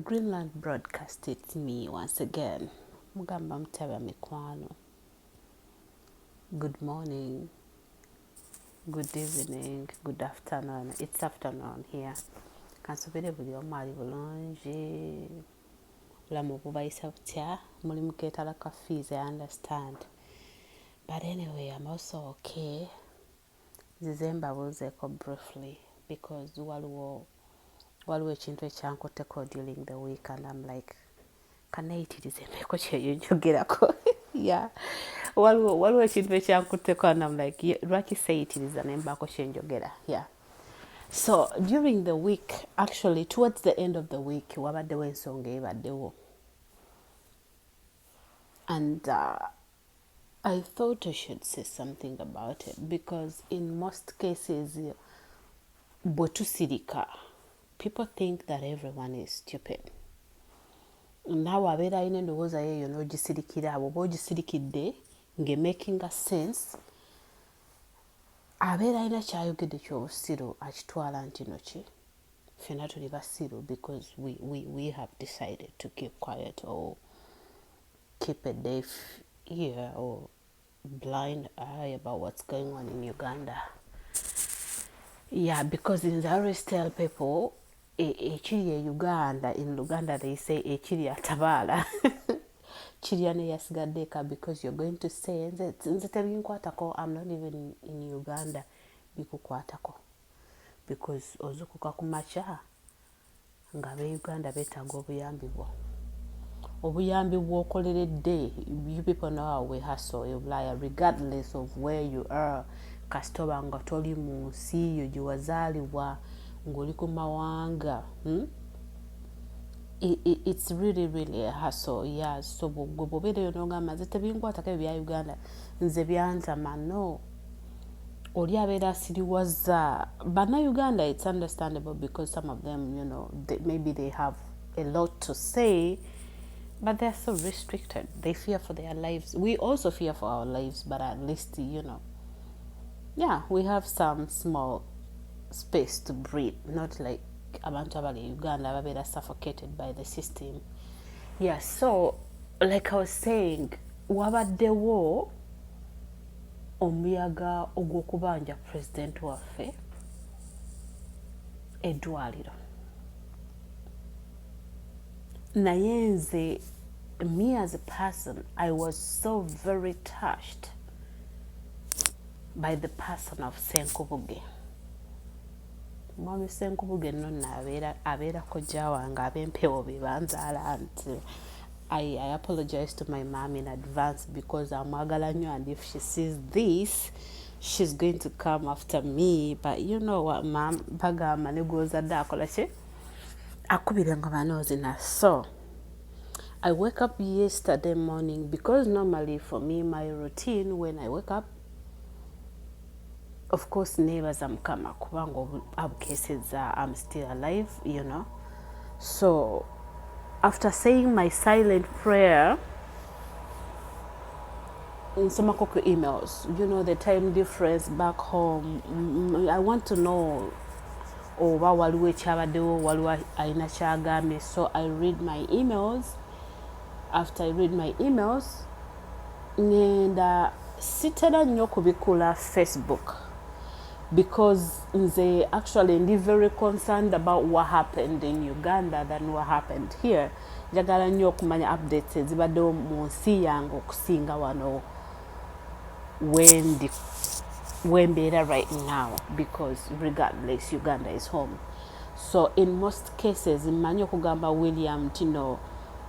Greenland broadcast it's me once again mugamba mutaba mikwano good morning good evening good afternoon it's afternoon here kansubire buli omu ali bulungi obulamu bubayisa butya mulimu ketala ka fees i understand but anyway am also okay nzize mbabuuzeko briefly because waliwo waliwo ekintu ekyankutteko during the week and am like kanayitiriza embeeko kyeyo njogerako ya waliwo ekintu ekyankutteko and am like lwaki seyitiriza nembaako kyenjogera ya yeah. so during the week actually towards the end of the week wabaddewo ensonga ebaddewo and uh, i thought i should say something about it because in most cases bwe tusirika people think that everyone is stupid naawe abeera alina endowooza yeeyo n'ogisirikira abo oba ogisirikidde nge making a sense abeera alina kyayogedde kyobusiru akitwala nti noki fena tuli basiru because we, we, we have decided to keep quiet or keep a deaf ear or blind eye about what's going on in uganda yeah because in the always tell people E, ekiri e uganda in luganda they say ekiri atabaala kirya neyasigadde eka because you're going to say nze tebinkwatako am not even in uganda bikukwatako because ozukuka ku makya nga abeuganda betaaga obuyambi bwo obuyambi bwokoleredde you people know how we hustle ebulaya regardless of where you are kasitoba nga toli mu nsi yo gyewazaalibwa you ng'oli ku mawanga hmm? it's really really a hustle yeah so bwegwe bwobeera eyo nogamba nze tebinkwatako ebyo bya uganda nze byantama no oli abeera asiriwaza bana uganda it's understandable because some of them you know they, maybe they have a lot to say but they're so restricted they fear for their lives we also fear for our lives but at least you know yeah we have some small space to breathe not like abantu abali e uganda ababeera suffocated by the system yeah so like i was saying wabaddewo omuyaga ogw'okubanja president waffe eddwaliro naye nze me as a person i was so very touched by the person of senkubuge mwami senkubuge no nabeera abeera kojja wange abempewo bebanzaala nti I, I apologize to my mom in advance because amwagala nnyo and if she sees this she's going to come after me but you know what mam bagamba negwozadde akola ki akubire nga banoozina so I wake up yesterday morning because normally for me my routine when I wake up of course nebaza mukama kubanga abukeseza am still alive you know so after saying my silent prayer nsomako ku emails you know the time difference back home mm, i want to know oba waliwo ekyabaddewo waliwo alina kyagambye so i read my emails after i read my emails ngenda sitera nnyo kubikula facebook because nze actually ndi very concerned about what happened in uganda than what happened here njagala nnyo okumanya updates ezibaddewo mu nsi yange okusinga wano wendi wembeera right now because regardless uganda is home so in most cases mmanyi okugamba william tino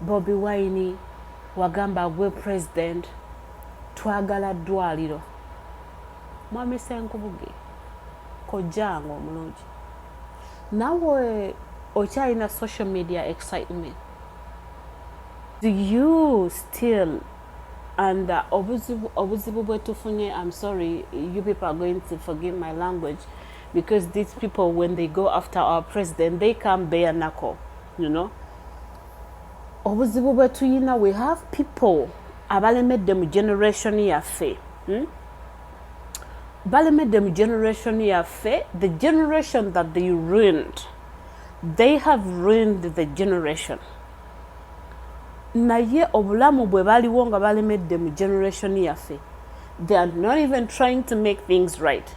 Bobi wine wagamba gwe president twagala dwaliro mwami senkubuge kojjange omulungi nawe okyalina social media excitement you still and uh, obuzibu, obuzibu bwetufunye i'm sorry you people are going to forgive my language because these people when they go after our president they come bare knuckle you know obuzibu bwetuyina we have people abalemedde mu generation yaffe hmm? balemedde mu generation yaffe the generation that they ruined they have ruined the generation naye obulamu bwe baliwo nga balemedde mu generation yaffe they are not even trying to make things right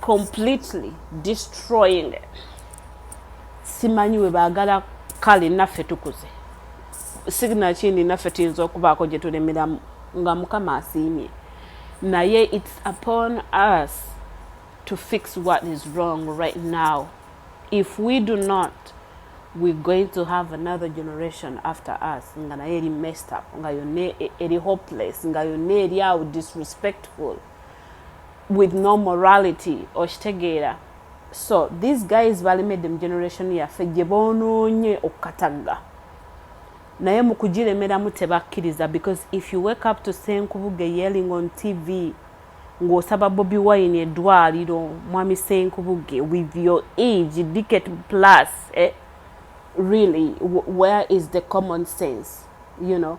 completely destroying simanyi we baagala kale naffe tukuze sigina kindi naffe tuyinza okubaako gye tulemeramu nga mukama asiimye naye its upon us to fix what is wrong right now if we do not we're going to have another generation after us nga naye eri messed up nga yonna e-, eri hopeless nga yonna eri awo disrespectful with no morality okitegeera so these guys balemedde mu generation yaffe gye bonoonye okukatagga naye mu kugiremeramu tebakkiriza because if you wake up to senkubuge yelling on tv ng'osaba bobi wine eddwaliro mwami senkubuge with your age dicket plus eh? really where is the common sense you know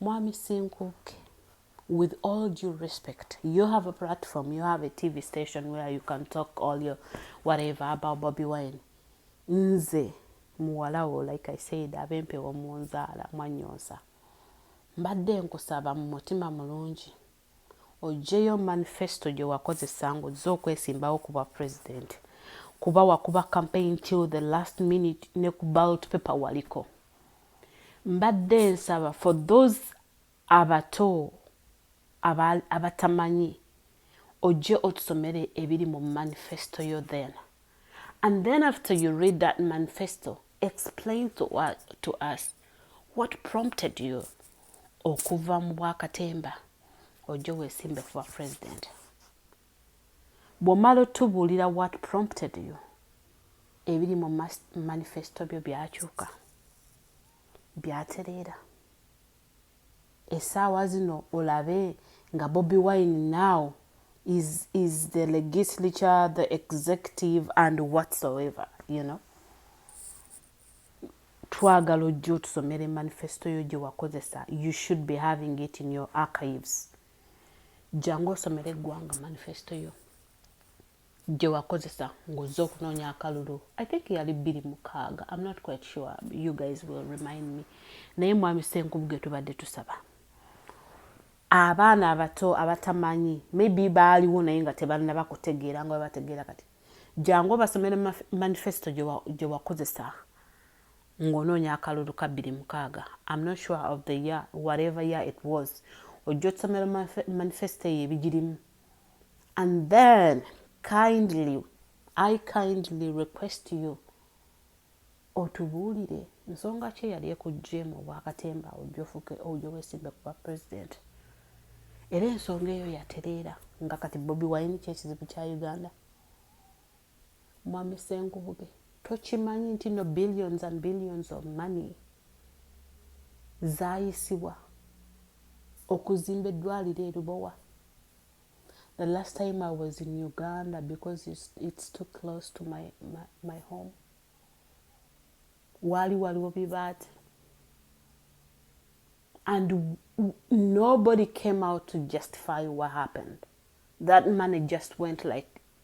Mwami Senkukke, with all due respect, you have a platform, you have a TV station where you can talk all your whatever about Bobby Wine. Nze, muwalawo, like I said, abempewo munzaala, mwanyonsa. Mbadde nkusaba mu mutima mulungi, ojjeyo manifesto gyewakozesa nga ozze okwesimbawo ku bwa president kuba wakuba campaign till the last minute ne ku ballot paper waliko mbadde nsaba for those abato abatamanyi ojje otusomere ebiri mu manifesto yo then and then after you read that manifesto explain to, uh, to us what prompted you okuva mu bwakatemba ojja wesimbe kuba president bwomala otubuulira what prompted you ebiri mu manifesto byo byakyuka byatereera Esaawa zino olabe nga Bobi wine now is is the legislature the executive and whatsoever you know twagala ojja otusomere manifesto yo gyewakozesa you should be having it in your archives jangu osomere eggwanga manifesto yo gye wakozesa ng'ozze okunoonya akalulu i think yali bbiri mukaaga am not quite sure you guys will remind me naye mwami senkubu ge tubadde tusaba abaana abato abatamanyi maybe baaliwo naye nga tebannaba kutegeera nga babategeera kati jangu obasomere manifesto gye wakozesa ng'onoonya akalulu ka bbiri mukaaga am not sure of the year whatever year it was ojja otusomera manifesto eyo ebigirimu and then kindly i kindly request you otubuulire nsonga ki eyali ekuggyemu obwakatemba ojofuke ojo wesimbe kuba president era ensonga eyo yatereera nga kati bobi wine kyekizibu kya uganda Mwami Senkubuge, tokimanyi nti no billions and billions of money zayisibwa okuzimba eddwaliro erubowa the last time i was in uganda because it's, it's too close to my, my, my home waali waliwo bibaati and nobody came out to justify what happened that money just went like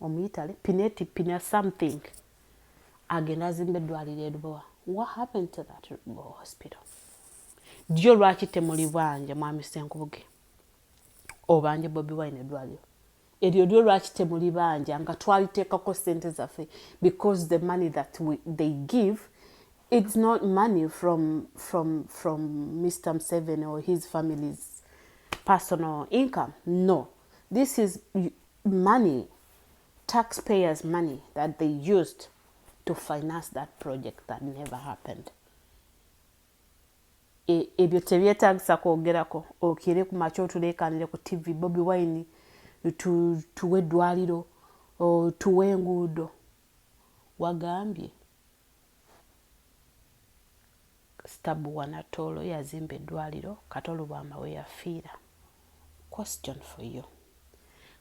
Omuyitale Pineti Pina something agenda azimba eddwaliro e Lubowa. What happened to that Lubowa hospital? Ddyo lwaki temulibanja mwami Senkubuge obanja Bobi Wine eddwaliro eryo lyo lwaki temulibanja nga twaliteekako sente zaffe because the money that we, they give it's not money from, from, from Mr. Museveni or his family's personal income. No. This is money tax payers money that they used to finance that project that never happened e, ebyo tebyetagisa kwogerako okire ku makya otulekanire ku tv bobi wine tuwe eddwaliro tuwe enguudo wagambye Stabuwa Natoolo yazimba eddwaliro Kato Lubwama weyafiira. Question for you.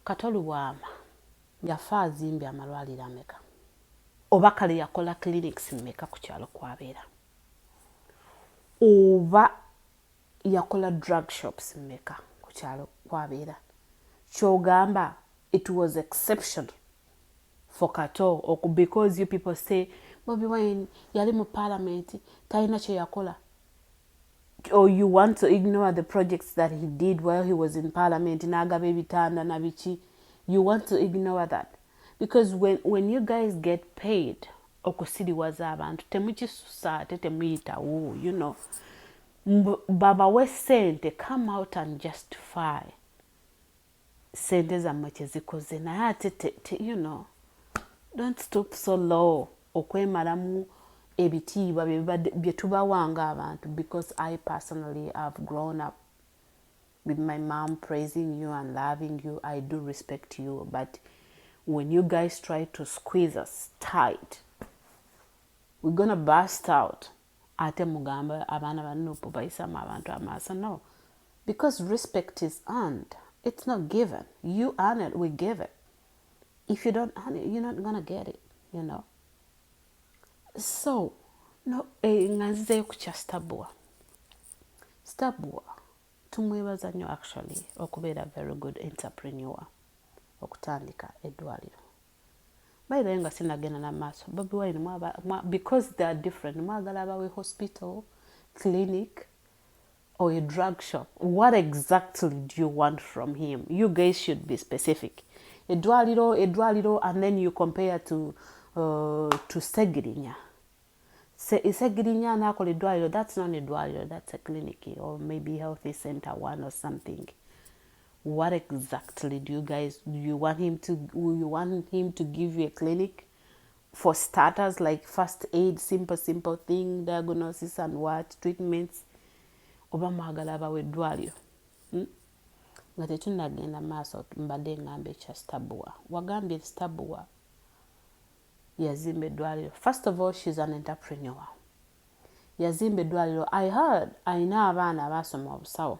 Kato Lubwama yafa azimbye amalwaliro ameka? Oba kale yakola clinics meka ku kyalo kwabeera? Oba Yakola drug shops meka kukyalo kwabeera? Kyogamba it was exceptional for kato oku because you people say bobi wine yali mu parliament talina kyeyakola or you want to ignore the projects that he did while he was in parliament nagaba ebitanda nabiki you want to ignore that because when, when you guys get paid okusiriwaza abantu temukisusa ate temuyitawo you know Mbu babawe sente come out and justify sente zamwe kyezikoze naye ate te, te, you know don't stoop so low okwemalamu ebitiibwa byetubawa nga abantu because i personally have grown up with my mom praising you and loving you i do respect you but when you guys try to squeeze us tight we're gonna burst out Ate mugamba abaana ba nup bayisamu abantu amaaso no because respect is earned it's not given you earn it we give it if you don't earn it you're not gonna get it you know so no eh, nga nzizeyo ku kya stabua stabua tumwebaza nnyo actually okubeera very good entrepreneur okutandika eddwaliro by the way nga sinagenda na maaso bobi wine mwaba mwa, because they are different mwagala abawe hospital clinic or a drug shop what exactly do you want from him you guys should be specific edwaliro edwaliro and then you compare to uh, to segirinya Se, segirinya nakola edwaliro that's not edwaliro that's a clinic or maybe healthy center one or something What exactly do you guys do you want him to you want him to give you a clinic for starters like first aid simple simple thing diagnosis and what treatments oba mwagala abawa eddwaliro hmm? nga tetunagenda maaso mbadde ngamba ekya stabua wagambye stabua yazimba eddwaliro first of all shes an entrepreneur yazimba eddwaliro i heard alina abaana abaasoma obusawo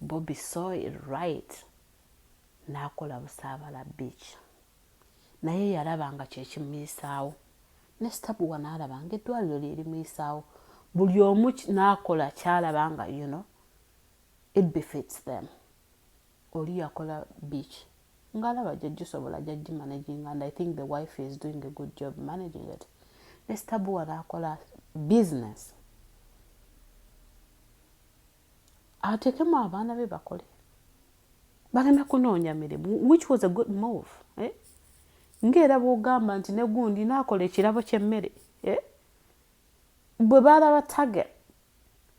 Bobi soil right nakola busabala beach naye yalaba nga kyekimuyisaawo ne stabuwa nalaba nga eddwaliro lyerimuyisaawo buli omu nakola kyalaba nga you know it befits them oli yakola beach ngalaba gyegisobola gyagi managing and i think the wife is doing a good job managing it ne stabuwa nakola business atekemu abaana be bakole bagenda kunoonya mirimu which was a good move eh? ngaera bwogamba nti negundi nakola ekirabo kyemmere eh? bwe balaba target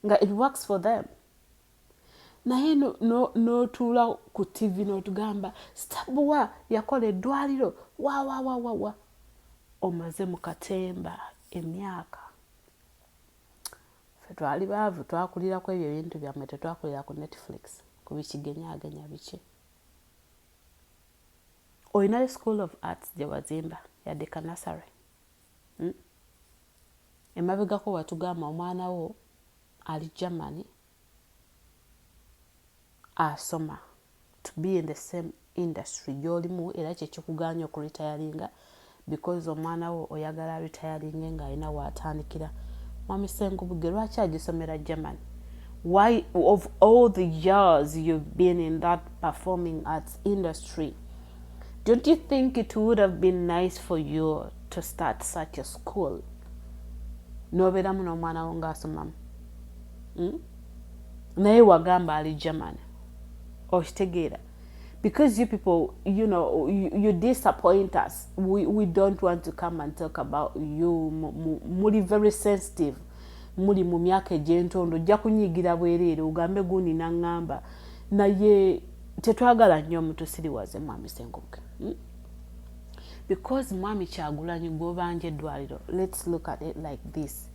nga it works for them naye notuula no, no ku tv notugamba stabuwa yakola eddwaliro wawawawawa omaze mu katemba emyaka Ffe twali baavu twakulira kwebyo ebintu byammwe tetwakulira ku Netflix ku bikigenyagenya biki. Olinayo school of arts gye wazimba yadde kanasare hmm? emabegako watugamba omwana wo ali Germany asoma to be in the same industry gyolimu era kyekikuganya okuritayalinga because omwana wo oyagala ritayalinge nga alina watandikira mwami senkubuge lwaki agisomera german why of all the years you've been in that performing arts industry don't you think it would have been nice for you to start such a school nobeeramu n'omwana wo ng'asomamu hmm? naye wagamba ali german okitegeera because you people you know you, you disappoint us we, we don't want to come and talk about you muli very sensitive muli mu myaka egyentondo ojja kunyigira bwereere ogambe gundi naŋŋamba naye tetwagala nnyo mutusiriwaze mwami senkuke hmm? because mwami kyagulanyi gwobanja eddwaliro let's look at it like this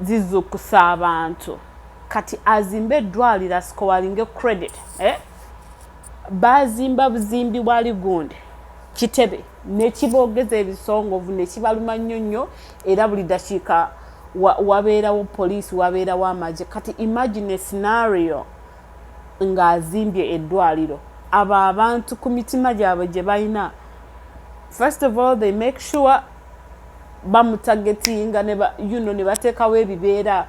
zizukusa abantu kati azimbe edwaliro asikowalinge credit eh? bazimba buzimbi bwali gundi kitebe nekibogeza ebisongovu nekibaluma nnyo nnyo era buli dakiika wabeerawo wa poliisi wabeerawo amagye kati imagine scenario ng'azimbye eddwaliro abo abantu ku mitima gyabwe gye balina first of all they make sure bamutagetinga ne ba you know ne batekawo ebibeera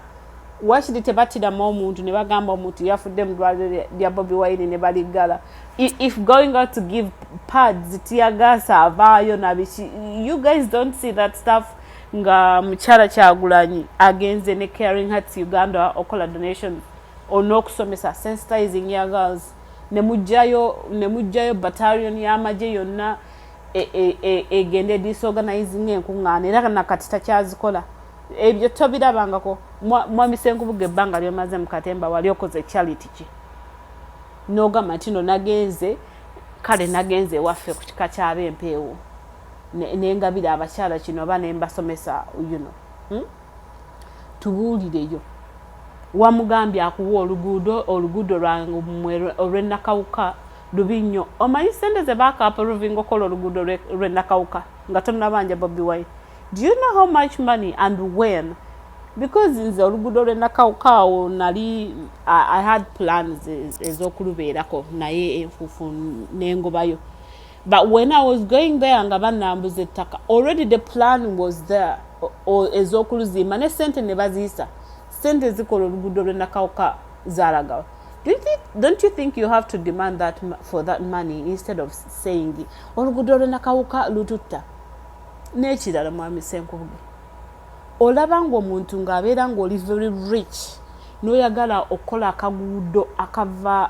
wakiri tebatiramu omuntu ne bagamba omuntu yafudde mu ddwaliro lya bobi wine ne baliggala if going out to give pads tiyagaasa avaayo nabiki you guys don't see that stuff nga mukyala kyagulanyi agenze ne caring hearts uganda okola donation onokusomesa sensitizing young girls ne mujjayo ne mujjayo battalion y'amagye yonna e, e, e, egende e, e, disorganizinga enkuŋŋaana era na kati takyazikola ebyo tobirabangako mwami senkubuga ebbanga lyomaze mukatemba wali okoze charity ki nogamba nti no nagenze kale nagenze ewaffe ku kika kyaba empeewo nengabira abakyala kino oba nembasomesa yuno hmm? tubuulireyo wamugambye akuwa oluguudo oluguudo lwamwe olwenakawuka lubi nnyo omanyi sente ze baakaapuluvinga okukola oluguudo lwenakawuka nga tonnabanja bobi wine do you know how much money and when because nze oluguudo lwenakawuka awo nali i had plans ez'okulubeerako naye enfuufu nengobayo but when i was going there nga banambuza ettaka already the plan was there ezokuluzimba ne sente ne baziyisa sente zikola oluguudo lwenakawuka zalagawa don't you think you have to demand that for that money instead of saying oluguudo olwenakawuka lututta n'ekirala mwami senkubuge olaba ngaomuntu ng'abeera ng'oli very rich n'oyagala okukola akaguudo akava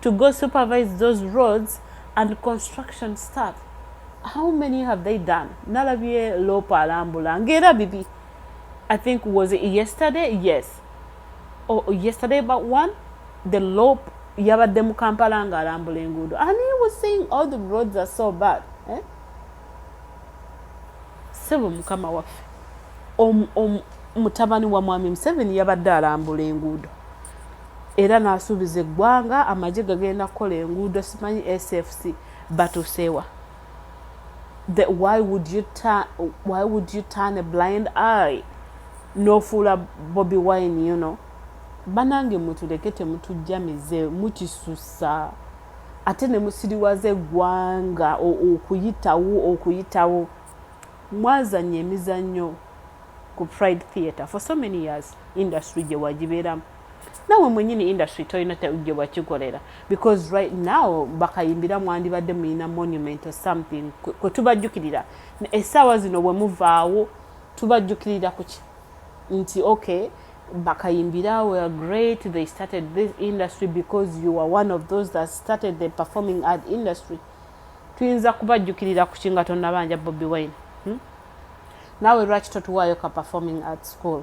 to go supervise those roads and construction stuff how many have they done nalabye lopa alambula ngaera bibi i think was it yesterday yes or oh, yesterday about one the lop yabadde mu kampala nga alambula enguudo and he was saying all the roads are so bad eh? sebo mukama waffe mutabani wa mwami museveni yabadde alambula enguudo era n'asuubiza eggwanga amagye gagenda kukola enguudo simanyi SFC batuuseewa the why would you turn why would you turn a blind eye n'ofuula Bobi Wine you know banange mutuleke temutujja mize mukisusa ate ne musiriwaza eggwanga okuyitawo okuyitawo mwazanya emizannyo ku Pride Theatre for so many years industry gye wagibeeramu nawe mwenyini industry tolina gye wakikolera because right now bakayimbira mwandibadde muyina monument or something kwe tubajjukirira essaawa zino bwe muvaawo tubajjukirira kuki nti okay bakayimbira were great they started this industry because you are one of those that started the performing art industry tuyinza kubajjukirira kuki nga tonabanja bobi wine hmm? nawe lwaki totuwaayo ka performing art school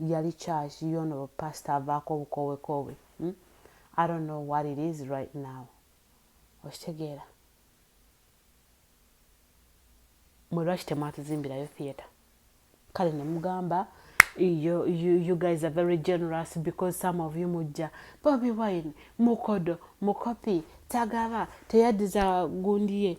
yali church yono pastor avaako obukoowe koowe hmm? I don't know what it is right now okitegeera mwe lwaki temwatuzimbirayo theatre kale ne mugamba you, you, you guys are very generous because some of you mujja bobi wine mukodo mukopi tagaba teyadiza gundi ye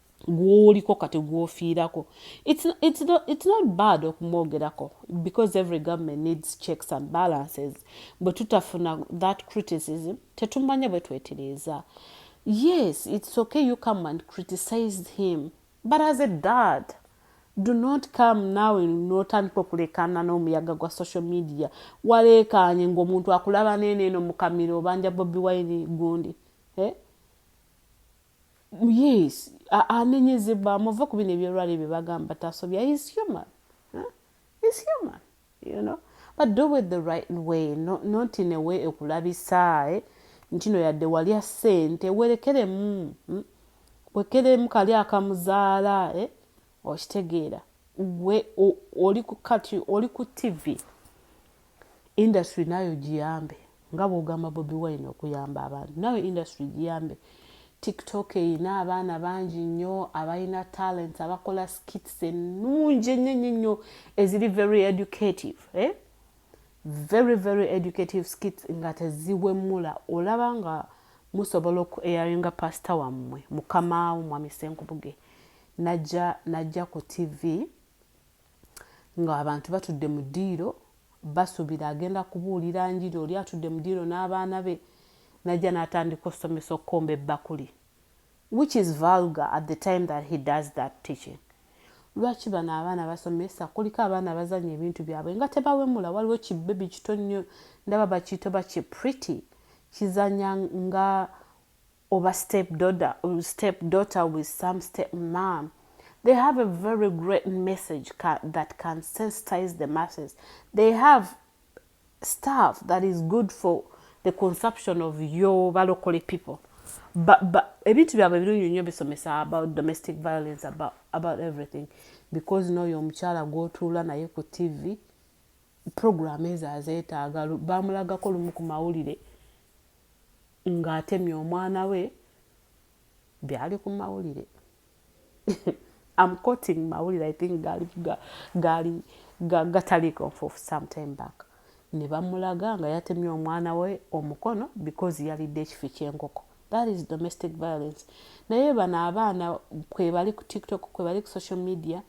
gwoliko kati gwofiirako it's, it's, not, it's not bad okumwogerako because every government needs checks and balances bwe tutafuna that criticism tetumanya bwe twetiriiza yes it's okay you come and criticize him but as a dad do not come now notandika okulekana n'omuyaga gwa social media waleekaanye ng'omuntu akulaba neeneeno mukamiro obanja bobi wine gundi eh? yes anenyezebwa muve ku bino ebyolwali bye bagamba tasobya is human is human you know but do it the right way no, not in a way ekulabisa eh? ntino yadde walya sente werekeremu hmm? wekeremu kali akamuzaala eh? okitegeera gwe oli ku kati oli ku tivi Industry naayo ogiyambe nga bwogamba Bobi Wine okuyamba abantu naawe industry giyambe. Tiktok erina abaana bangi nnyo abalina talents abakola skits ennungi ennyo ennyo ennyo eziri very educative eh? very very educative skits nga teziwemula olaba nga musobola oku airinga pasita wammwe mukamaawo mwami Senkubuge najja najja ku TV Nga abantu batudde mu ddiiro, basubira agenda kubuulira njiri, oli atudde mu ddiiro n'abaana be, najja natandika osomesa okukomba ebbakuli, which is vulgar at the time that he does that teaching. Lwaki bano abaana basomesa, kuliko abaana abazanya ebintu byabwe nga tebawemula, waliwo ki baby kito nnyo, ndaba bakiyita oba ki pretty, kizanya nga oba step doda um, step daughter with some step mom they have a very great message ca that can sensitize the masses they have stuff that is good for the consumption of your balokole people ebintu byabwe ebirungi nnyo bisomesa about domestic violence about, about everything because noyo omukyala gwotuula naye ku tv program ezo azetaaga baamulagako lumu ku mawulire ng'atemye omwana we byali ku mawulire am coting mawulire i think gaali gaali gataliiko nfuufu sometime back ne bamulaga nga yatemye omwana we omukono because yalidde ekifi ky'enkoko that is domestic violence naye bano abaana kwebali ku tiktok kwebali ku social media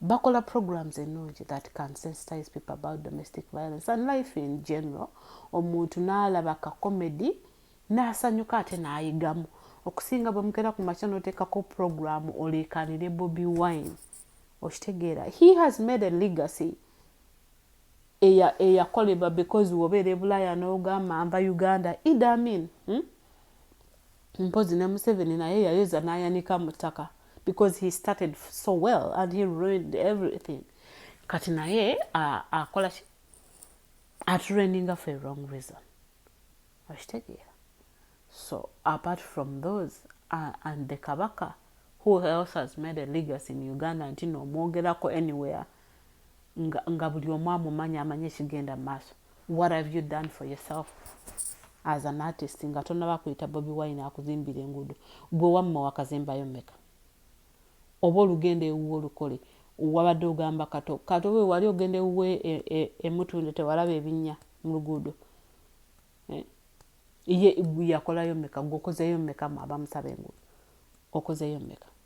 bakola programs ennungi that can sensitize people about domestic violence and life in general omuntu n'alaba ka comedy n'asanyuka ate n'ayigamu okusinga bwe mukera ku makya n'oteekako programu oleekaanire bobi wine okitegeera he has made a legacy eyakolebwa because wobeera ebulaaya n'ogamba nva uganda idamin hmm? Mpozi ne Museveni naye yayoza nayanika mu ttaka because he started so well and he ruined everything kati naye akola ki atureninga for a wrong reason okitegeera so apart from those uh, and the kabaka who else has made a legacy in uganda nti nomwogerako anywhere nga, nga buli omu amumanya amanye ekigenda mu maaso what have you done for yourself as an artist nga tonaba kuyita bobi wine akuzimbira enguudo gwe wamma wakazimbayo meka oba olugenda ewuwe olukole wabadde ogamba kato kato we wali ogenda ewuwe e, e, emutunde tewalaba ebinya mu luguudo eh? ye yakolayo meka gwe okozeyo meka abamusaba enguudo okozeyo meka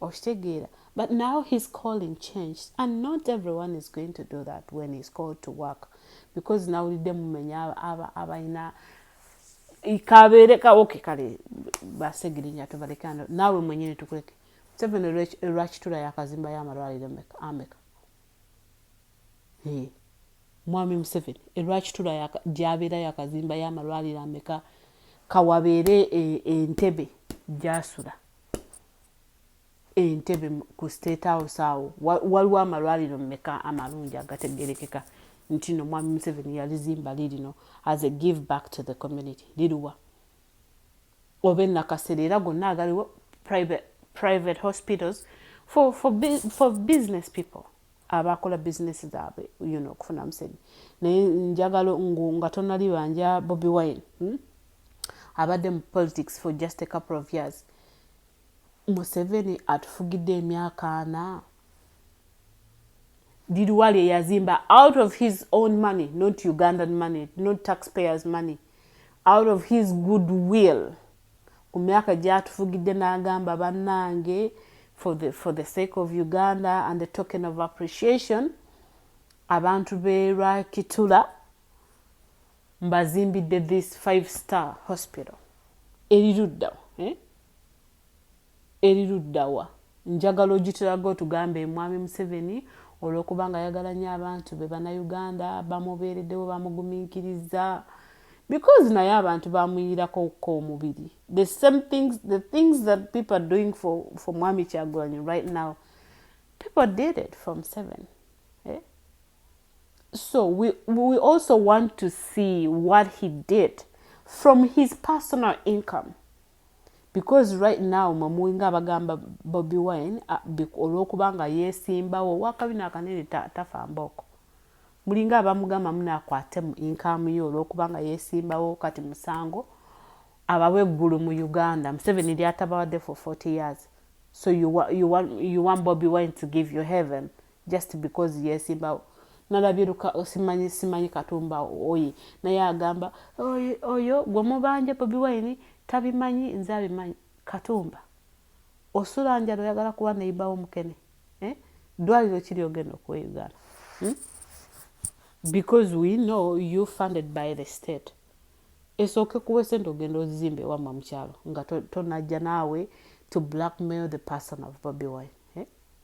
okitegeera but now his calling changed and not everyone is going to do that when he's called to work because nawulidde mumenya abalina kabeere kawoke kale basegirinya tubalekano naawe mwenyini tukuleke seven lwakitula yakazimba yamalwaliro ameka mwami museveni elwakitula gyabeera yakazimba yamalwaliro ameka kawabeere e, entebe gyasula Entebbe ku state house awo waliwo amalwaliro meka amalungi agategerekeka nti no mwami Museveni yalizimba lirino as a give back to the community liriwa oba enakasera era gonna agaliwo private, private hospitals for, for, for business people abakola business zaabwe you know, okufuna museveni naye njagala nga tonalibanja bobi wine hmm? abadde mu politics for just a couple of years museveni atufugidde emyaka ana liriwa lye yazimba out of his own money not ugandan money not taxpayers money out of his good will ku myaka gyatufugidde n'agamba bannange for the, for the sake of uganda and the token of appreciation abantu be lwakitula Mbazimbidde this five star hospital eri ludda eh? eri luddawa njagala ogitulaga otugambe mwami museveni olwokuba nga ayagala nyo abantu be banauganda bamubeereddewo bamuguminkiriza because naye abantu bamuyiirakokka omubiri the same things the things that people are doing for, for mwami kyagulanyi right now people did it from seven so we, we also want to see what he did from his personal income because right now mwemuwinga abagamba bobi wine ah, olwokuba nga yesimbawo wakabina akanene tafa mbooko mulinga abamugamba munakwate mu income yo olwokuba nga yesimbawo kati musango abawe eggulu mu uganda museveni lyatabawadde for 40 years so you, you, want, you want bobi wine to give you heaven just because yesimbawo nalabye luka osimanyi simanyi katumba oye naye agamba oyo gwemubanja bobi wine tabimanyi nze abimanyi katumba osula njala oyagala kuba neyibawo mukene eh? dwaliro kiri ogenda okuwa uganda hmm? because we know you funded by the state esooke kuwa esente ogenda ozimba ewamma mukyalo nga tonajja naawe to blackmail the person of bobi wine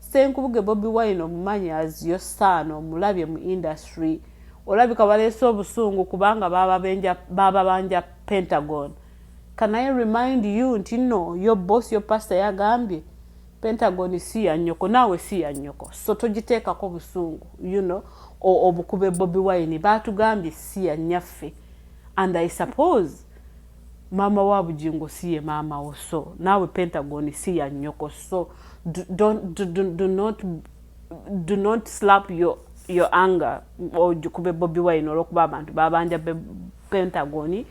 Ssenkubuge Bobi Wine omumanyi as your son omulabye mu industry olabika baleese obusungu kubanga baababanja pentagon can I remind you nti no your boss your pastor yagambye pentagon si ya nyoko naawe si ya nyoko so togiteekako busungu you know obukube Bobi Wine baatugambye si ya nyaffe and I suppose Maama wa Bugingo si ye maama wo so naawe Pentagon si ya nnyoko so do not do not slap your, your anger ogikube Bobi Wine olwokuba abantu babanja Pentagon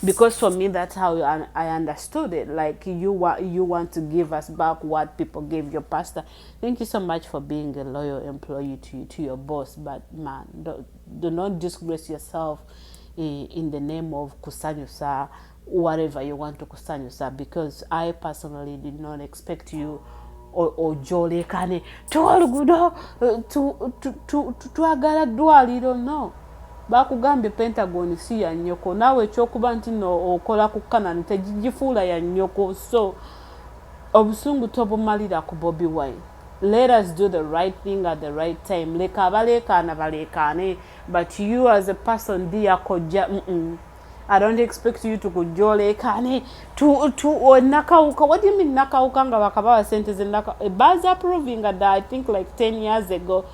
because for me that's how I understood it like you want you want to give us back what people gave your pastor thank you so much for being a loyal employee to, to your boss but man don't, Do not disgrace yourself eh, in the name of kusanyusa whatever you want to kusanyusa because I personally did not expect you ojolekane tuwa lugudo twagala ddwaliro no bakugambye pentagon si ya nyoko naawe ekyokuba nti no okola ku kanani tegigifuula ya nyoko so obusungu tobumalira ku bobi wine Let us do the right thing at the right time leka abaleekaana baleekaane but you as a person dear kojja mm -mm. I don't expect you to kujoleekane to, to or nakawuka what do you mean nakawuka nga bakabawa sente zenaka eh, baz approving that I think like 10 years ago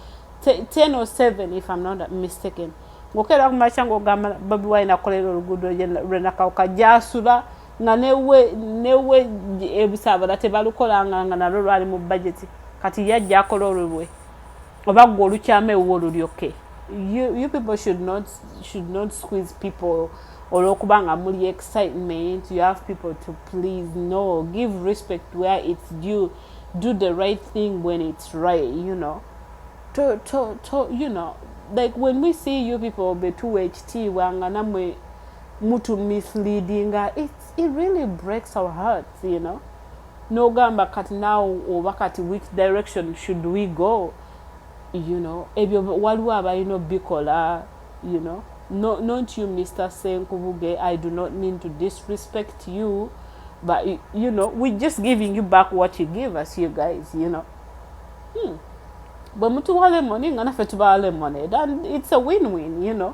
10 or 7 if I'm not mistaken ngokera kumacha ngogamba babi wine akolera olugudo lwe nakawuka jasula nga newe ebusabala tebalukolanga nga nalwo lwali mu bajeti kati yajja akola olulwe oba gwe olukyama ewuwo lulyoke you people should not, should not squeeze people olwokuba nga muli excitement you have people to please no give respect where it's due do the right thing when it's right you know to, to, to, you know like when we see you people betuwa ekitiibwa nga namwe mutu misleadinga it, it really breaks our hearts you know nogamba kati now oba kati which direction should we go you know ebyo waliwo abalina obikola you know no, not you mr senkubuge i do not mean to disrespect you but you know we just giving you back what you give us you guys you know hmm. bwe mutuwa lemoni nga naffe tubawa lemonade and it's a win win you know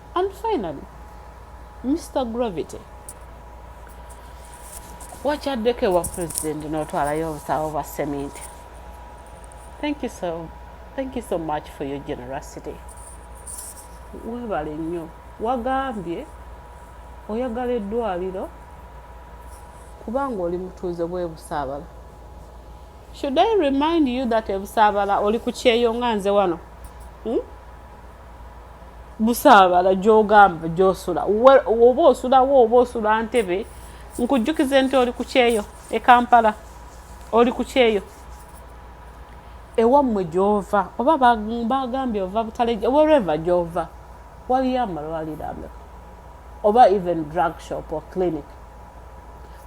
and finally mr gravity wakyaddeko ewa president n'otwalayo obusawo bwa seminti thank you so thank you so much for your generosity webale nnyo wagambye oyagala eddwaliro kubanga oli mutuuze bwebusaabala should i remind you that ebusaabala oli ku kyeyo nga nze wano hmm? busaabala gy'ogamba gy'osula oba osulawo oba osula ntebe nkujjukize nti oli ku kyeyo e kampala oli ku kyeyo ewammwe gy'ova oba bagambye ova butaleja wereva gy'ova waliyo amalwaliro ameka oba even drug shop or clinic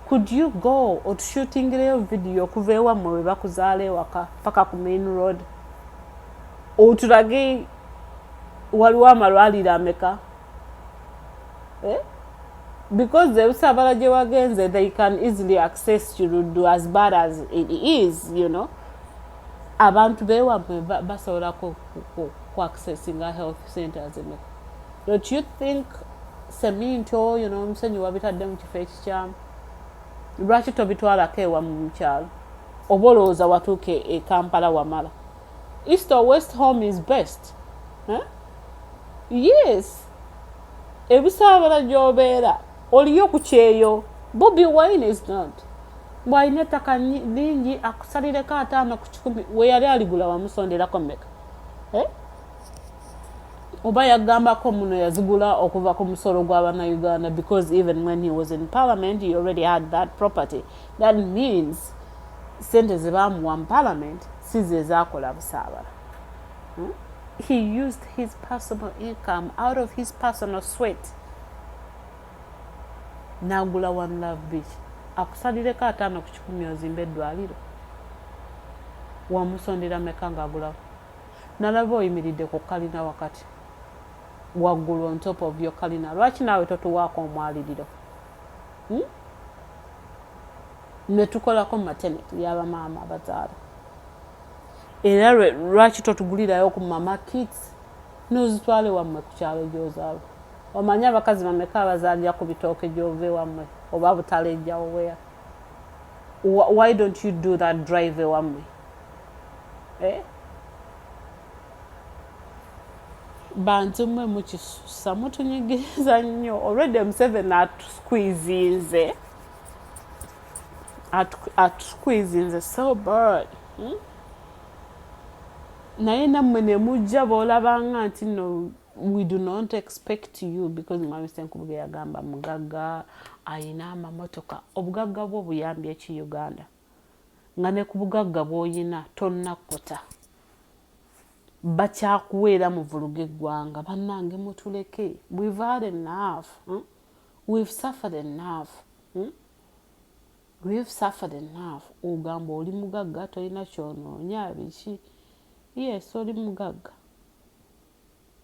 could you go otushutingireyo vidiyo okuva ewammwe we bakuzaala ewaka paka ku main road otulage waliwo amalwaliro ameka eh? because the usabala gye wagenze they can easily access kiruddu as bad as it is you know abantu bewamwe basobola ku accessinga health centers eme don't you think seminto you know omusenyi wabitadde mu kifo ekikyamu lwaki tobitwalako ewa mu mukyalo oba olowooza watuuka e kampala wamala East or west home is best huh? yes ebisaabala gyobeera oliyo ku kyeyo bobi wine is not bwalina ettaka lingi akusalireko ataano ku kikumi weyali aligula wamusonderako meka eh? oba yagambako muno yazigula okuva ku musolo gwa banauganda because even when he was in parliament he already had that property that means sente zebamuwa mu parliament si ze zaakola busaabala hmm? he used his personal income out of his personal sweat nagula one love beach akusalireko ataano ku kikumi ozimba eddwaliro wamusondera meka ngaagulawo nalaba oyimiridde ku kalina wakati waggulu on top of yo kalina lwaki naawe totuwaako omwaliriro hmm? ne tukolako mu maternity ya bamaama abazaala era lwaki totugulirayo ku mama kits nozitwale wammwe ku kyalo gyozaala omanyi abakazi bameka abazaalira ku bitooke gyova ewammwe oba butala ejjawo wea why don't you do that drive ewammwe eh? bantu mwe mukisusa mutunyigiriza nnyo olwedde museveni atusquizinze atukwizinze so bird hmm? naye nammwe ne mujja b'olabanga nti no we do not expect you because mwami senkubuge yagamba mugagga alina amamotoka obugagga bwo buyambye ki uganda nga ne ku bugagga bw'olina tonnakuta bakyakuweera muvuluga eggwanga bannange mutuleke we've had enough hmm? we've suffered enough hmm? we've suffered enough ogamba oli mugagga tolina kyonoonya biki yes oli mugagga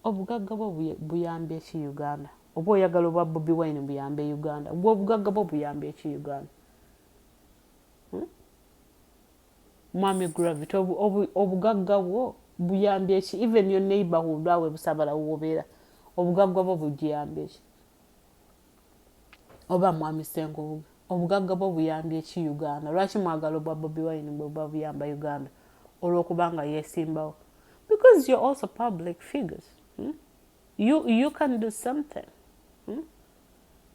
obugagga bwo buyambye ki uganda oba oyagala obwa bobi wine buyambe uganda gwe obugagga bwo buyambye ki uganda hmm? Mwami gravity obugagga bwo buyambye ki even your neighborhood awe busabala wobera obugagga bwo bujiyambye ki oba mwami senkubuga obugagga bwo buyambye ki uganda lwaki mwagala obwa bobi wine bwe buba buyamba uganda olwokubanga yesimbawo because you're also public figures hmm? you, you can do something hmm?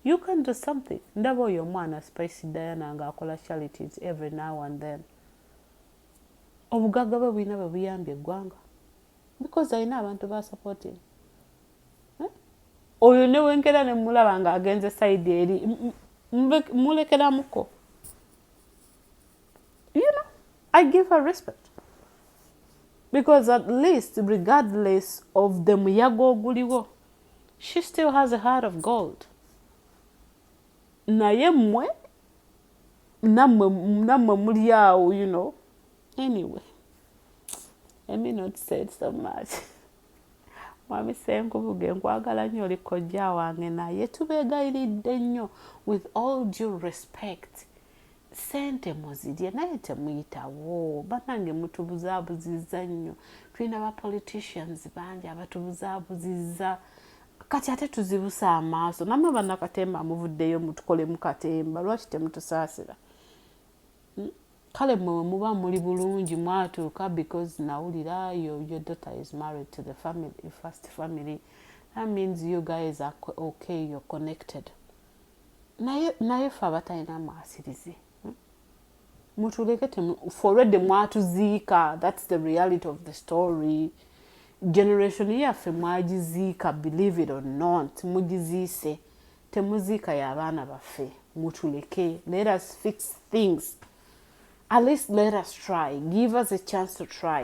You can do something. Ndaba oyo omwana Spice Diana nga akola charities every now and then. Obugagga bwe bulina bwe buyambye eggwanga. Because alina abantu ba supporting. Eh? Oyo ne wengera ne mulaba nga agenze side eri mulekera muko. You know, I give her respect. Because at least regardless of the muyaga oguliwo, She still has a heart of gold. Naye mwe namwe namwe muli awo you know. Anyway. Let me not say so much. Mwami Senkubuge nkwagala nnyo oli kojja wange naye tubeegayiridde nnyo with all due respect. sente muzirye naye temuyitawo banange mutubuzabuziza nnyo tulina ba politicians bangi abatubuzabuziza kati ate tuzibusa amaaso namwe banakatemba amuvuddeyo mutukole mukatemba lwaki temutusaasira hmm? kale mwewe muba muli bulungi mwatuuka because nawulira your daughter is married to the family, first family that means you guys are okay you're connected naye naye fe abatalina mwasirizi hmm? mutuleke foredi mwatuziika thats the reality of the story generation yaffe mwagiziika believe it or not mugiziise temuziika y'abaana baffe mutuleke let us fix things at least let us try give us a chance to try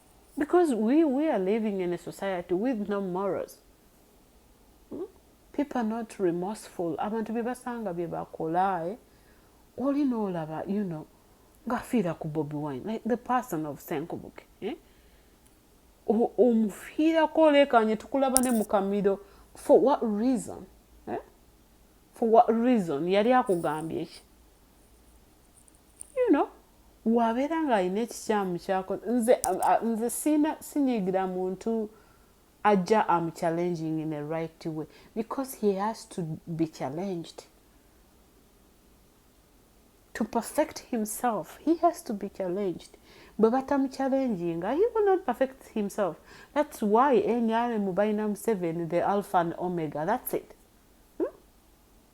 because we, we are living in a society with no morals hmm? people are not remorseful abantu bebasanga byebakola eh? oli nolaba you know ngafiira ku bobi wine like the person of senkubuke eh? omufiirako olekanye tukulaba ne mukamiro for what reason eh? for what reason yali akugambye ki you know wabeera ng'alina ekikyamu kyako nze nze siina sinyiigira muntu ajja am challenging in a right way because he has to be challenged to perfect himself he has to be challenged bwe batamuchallenginga he will not perfect himself that's why nrm balina museven the alpha and omega that's it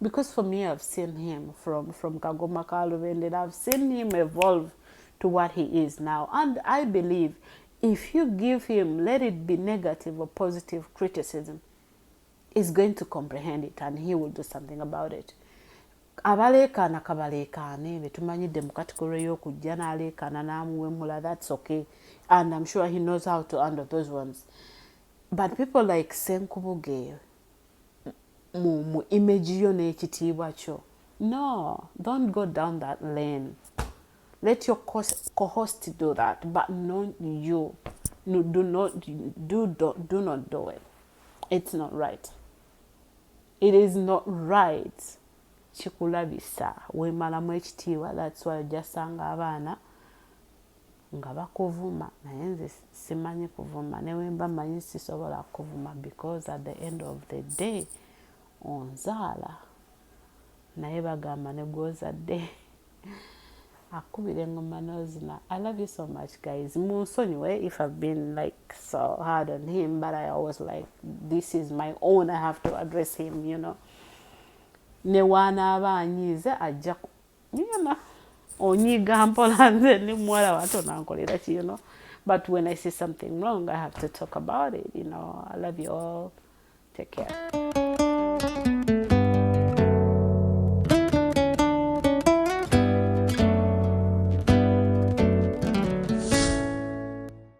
because for me i've seen him from from kagoma ka lubendera i've seen him evolve to what he is now and i believe if you give him let it be negative or positive criticism is going to comprehend it and he will do something about it abaleekaana kabaleekaane betumanyi demukatikolo eyokujja naleekaana namuwemula thats okay and im sure he knows how to under those ones but people like senkubuge mu mu image yo n'ekitiibwa kyo no don't go down that lane let your co-host do that but not you no, do not do, do, do not do it it's not right it is not right kikulabisa wemalamu ekitiibwa that's why ojasanga abaana nga bakuvuma naye nze simanyi kuvuma newemba manyi sisobola kuvuma because at the end of the day onzaala naye bagamba negwozadde akubira engoma nozina i love you so much guys munsonyiwe if i've been like so hard on him but i always like this is my own i have to address him you know newaanaaba anyiize ajja Yena onyiga mpola nze ni muwala wato nankolera ki you know but when I see something wrong I have to talk about it you know I love you all take care